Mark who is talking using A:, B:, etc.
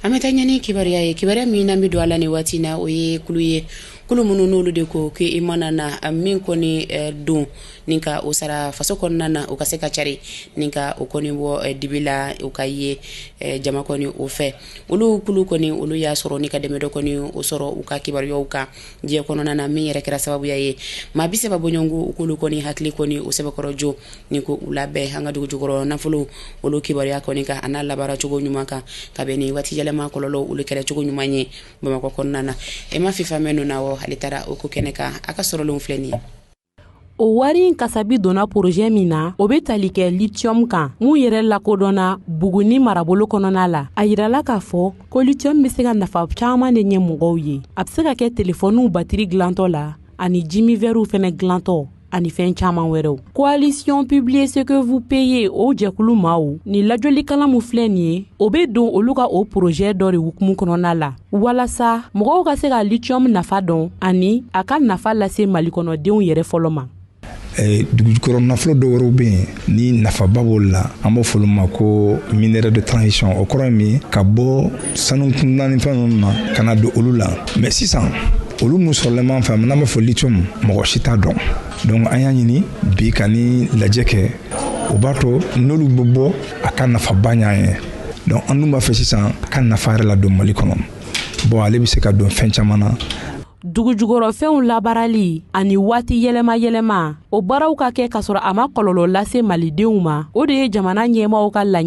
A: an bɛ taa ɲɛ ni kibaruya ye kibaruya min n'an bɛ don a la nin waati na o ye kulu ye kulu minnu n'olu de ko ke i mana na min kɔni eh, don ni ka o sara faso kɔnɔna na o ka se ka cari ni ka o kɔni bɔ eh, dibi la o ka ye eh, jama kɔni o fɛ olu kulu kɔni olu y'a sɔrɔ ni ka dɛmɛ dɔ kɔni o sɔrɔ u ka kibaruyaw kan diɲɛ kɔnɔna na min yɛrɛ kɛra sababuya ye maa bi saba bɔɲɔgɔnko u k'olu kɔni hakili kɔni o sɛbɛkɔrɔ jɔ ni k'u labɛn an ka dugu jukɔrɔ nafolo olu kibaruya kɔni kan an'a labaara cogo ɲuman kan ka bɛn ni waati yɛlɛma kɔlɔlɔ olu kɛlɛ cogo ɲuman ye bamakɔ kɔnɔna na emma fifamè nounawon ale taara o ko kɛnɛ kan a ka sɔrɔlenw filɛ nin ye
B: o wari in kasabi donna porozɛ min na o be tali kɛ litiyɔmu kan mun yɛrɛ lakodɔnna buguni marabolo kɔnɔna la a yirala k'a fɔ ko litiyɔmu be se ka nafa caaman de ɲɛ mɔgɔw ye a be se ka kɛ telefɔniw batiri dilantɔ la ani jimin vɛriw fɛnɛ dilantɔ ani fɛn caaman wɛrɛw coalition publiez ce que vous payez o jɛkulu maaw ni lajɔlikalan min filɛ nin ye o be don olu ka o porozɛ dɔ de hukumu kɔnɔna la walasa mɔgɔw ka se ka litiyɔmu nafa dɔn ani a ka nafa lase malikɔnɔdenw yɛrɛ fɔlɔ ma Eh,
C: dugujukɔrɔ nafolo dɔ wɛrɛw bɛ yen ni nafaba b'o la an b'o fɔ ma ko minerais de transition o kɔrɔ ye min ka bɔ sanu kunda ni fɛn ninnu na ka na don olu la mais sisan olu min sɔrɔlen b'an fɛ n'an b'a fɔ lithium mɔgɔ si t'a dɔn donc an y'a ɲini bi ka ni lajɛ kɛ o b'a to n'olu bɛ bɔ a ka nafaba ɲ'an ye donc an dun b'a fɛ sisan a ka nafa yɛrɛ ladon mali kɔnɔ bon ale bɛ se ka don fɛn caman na
B: dugujukɔrɔfɛnw labaarali ani waati yɛlɛma yɛlɛma o baaraw ka kɛ kasɔrɔ a ma kɔlɔlɔ lase malidenw ma o de ye jamana ɲɛmaaw ka laɲ